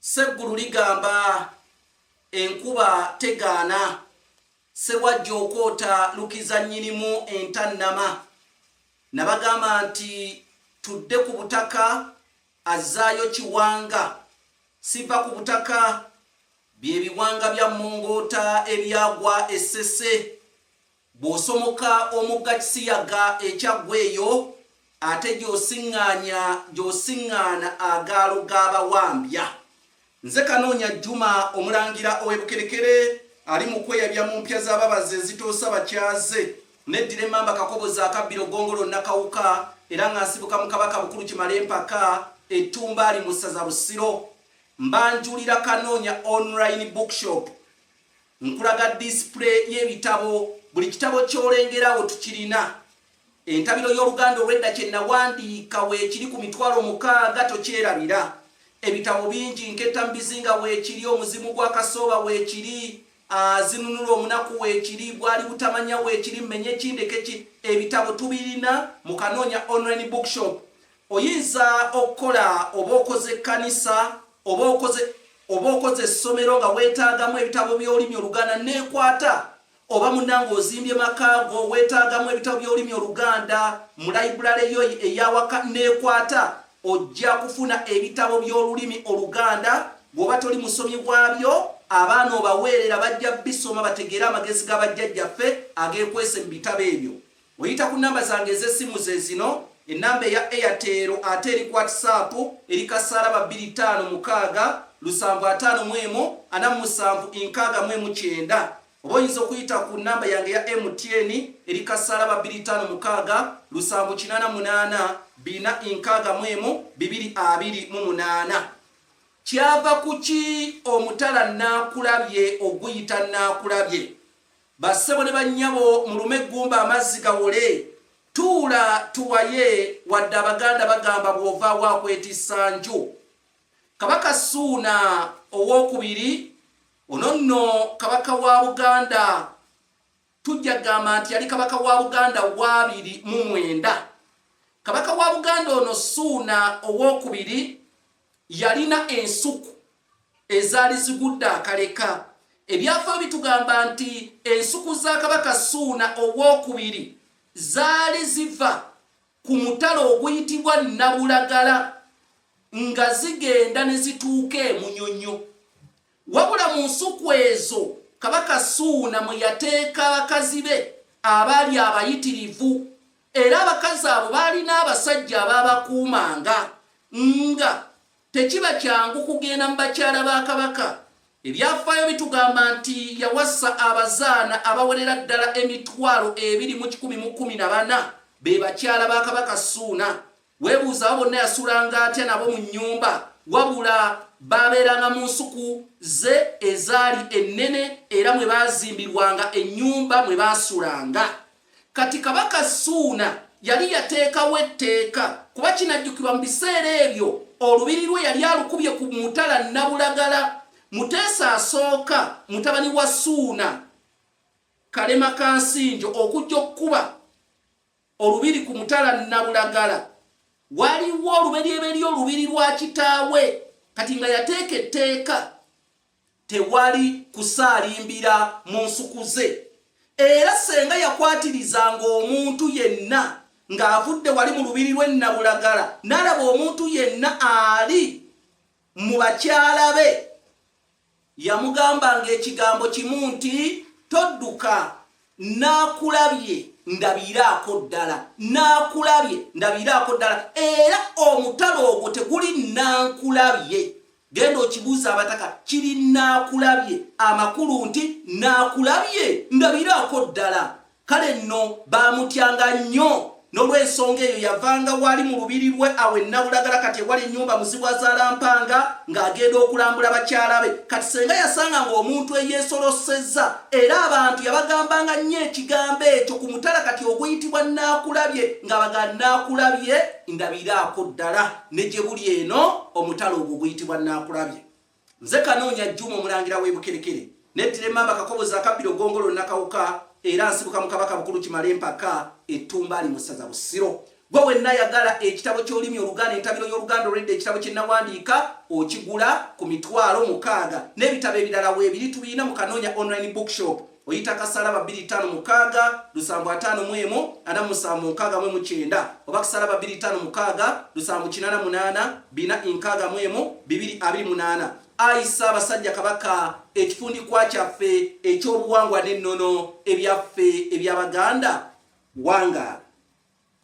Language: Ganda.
Sseggulu ligamba enkuba tegaana, Ssewajja okwota lukiza nnyinimu entannama. Nabagamba nti tudde ku butaka, azzaayo Kiwanga. Siva ku butaka, bye biwanga bya Mongoota ebyagwa e Ssese. Bw'osomoka omugga Kisiyaga e Kyaggwe eyo ate gy'osiŋŋaanya gy'osiŋŋaana agaalo ga Bawambya. Nze Kanoonya Juma, Omulangira ow'e Bukerekere ali mu kweyabya mu mpya za babazi ezitoosa bakyaze. Neddira Emmamba Kakoboza akabbiro Ggongolo Nakawuka era nga nsibuka mu Kabaka Bukulu Kimalempaka e Ttumbaali mu ssaza Busiro. Mbanjulira Kanoonya Online Bookshop. Nkulaga display y'ebitabo. Buli kitabo ky'olengerawo tukirina. Entabiro y'Oluganda olw'edda kye nawandiika weekiri ku mitwalo mukaaga tokyerabira. Ebitabo bingi nketta mu bizinga weekiri, Omuzimu gwa Kasooba weekiri, Azinunula omunaku weekiri, Bwali butamanya weekiri, Mmenye ki ndeke ki, ebitabo tubirina mu Kanoonya Online Bookshop. Oyinza okukola oba okoze ekkanisa oba okoze oba okoze essomero nga weetaagamu ebitabo by'olulimi Oluganda neekwata oba munnange ozimbye maka go weetaagamu ebitabo by'olulimi Oluganda mu layibulale yo ey'awaka neekwata ojja kufuna ebitabo by'olulimi Oluganda bw'oba toli musomi waabyo abaana obaweerera bajja bisoma bategeere amagezi ga bajjajjaffe ageekwese mu bitabo ebyo Oyita ku namba zange ez'essimu ze zino, ennamba eya Airtel ate eri ku WhatsApp eri kasaala ba bbiri ttaano mukaaga lusanvu ataano mu emu ana mu musanvu nkaaga mu emu kyenda. Oba oyinza okuyita ku namba yange eya MTN eri kasaala ba bbiri ttaano mukaaga lusanvu kinaana munaana bina nkaaga mu emu bibiri abiri mu munaana. Kyava ku ki omutala nnaakulabye oguyita nnaakulabye? Bassebo ne bannyabo mulume eggumba amazzi gawole. Tuula tuwaye wadde Abaganda bagamba bw'ovaawo akwetissa nju. Kabaka Ssuuna ow'okubiri ono nno kabaka wa Buganda tujja kugamba nti yali kabaka wa buganda waabiri mu mwenda kabaka wa buganda ono suuna owokubiri Yalina ensuku ezaali zigudde akaleka. Ebyafaayo bitugamba nti ensuku za Kabaka Ssuuna Ow'okubiri zaali ziva ku mutala oguyitibwa Nabulagala nga zigenda ne zituuka e Munyonyo. Wabula mu nsuku ezo Kabaka Ssuuna mwe yateeka bakazi be abaali abayitirivu Era abakazi abo baalina abasajja abaabakuumanga nga tekiba kyangu kugenda mu bakyala ba kabaka. Ebyafaayo bitugamba nti yawasa abazaana abawerera ddala emitwalo ebiri mu kikumi mu kkumi na bana be bakyala ba kabaka Suuna. Weebuuza abo bonna yasulanga atya nabo mu nnyumba? Wabula baabeeranga mu nsuku ze ezaali ennene era mwe baazimbirwanga ennyumba mwe baasulanga. Kati Kabaka Ssuuna yali yateekawo etteeka kuba kinajjukirwa mu biseera ebyo olubiri lwe yali alukubye ku mutala Nabulagala, Muteesa asooka mutabani wa Ssuuna Kalema Kansinjo okujja okukuba Olubiri ku mutala Nabulagala. Waliwo oluberyeberye olubiri lwa kitaawe kati nga yateeka etteeka tewali kusaalimbira mu nsuku ze era senga yakwatirizanga omuntu yenna ng'avudde wali mu lubiri lwe Nabulagala n'alaba omuntu yenna ali mu bakyala be Yamugambanga ekigambo kimu nti, Todduka! Nnaakulabye. Ndabiiraako ddala. Nnaakulabye. Ndabiiraako ddala. Era omutala ogwo teguli nnankulabye. Genda okibuuza abataka. Kiri nnaakulabye. Amakulu nti nnaakulabye. Ndabiiraako ddala. Kale nno baamutyanga nnyo, n'olw'ensonga eyo yavanga wali mu lubiri lwe awo e Nabulagala kati ewali ennyumba Muzibwazaalampanga ng'agenda okulambula bakyala be. Kati ssenga yasanganga omuntu eyeesolossezza era abantu yabagambanga nnyo ekigambo ekyo ku mutala kati oguyitibwa Nnaakulabye ng'abaga Nnaakulabye ndabiraako ddala ne gye buli eno omutala ogwo oguyitibwa Nnaakulabye. Nze Kanoonya Juma omulangira w'e Bukerekere nettira emmamba Kakobozi akabbiro Ggongolo Nakawuka era nsibuka mu Kabaka Bukulu Kimala empaka e Ttumbaali mu ssaza Busiro. Gwe wenna yagala ekitabo ky'olulimi Oluganda entabiro y'Oluganda olw'edda ekitabo kye nnawandiika okigula ku mitwalo mukaaga n'ebitabo ebirala weebiri tubirina mu Kanoonya Online Bookshop. oyita kasalaba 256 lusanvu ataano mu emu ana musanvu nkaaga mu mukyenda oba kasalaba 256 lusanvu kinana munaana bina nkaaga mu emu bibiri abiri munaana ayi ssaabasajja kabaka ekifundikwa kyaffe ekyobuwangwa n'ennono ebyaffe ebyabaganda wangaala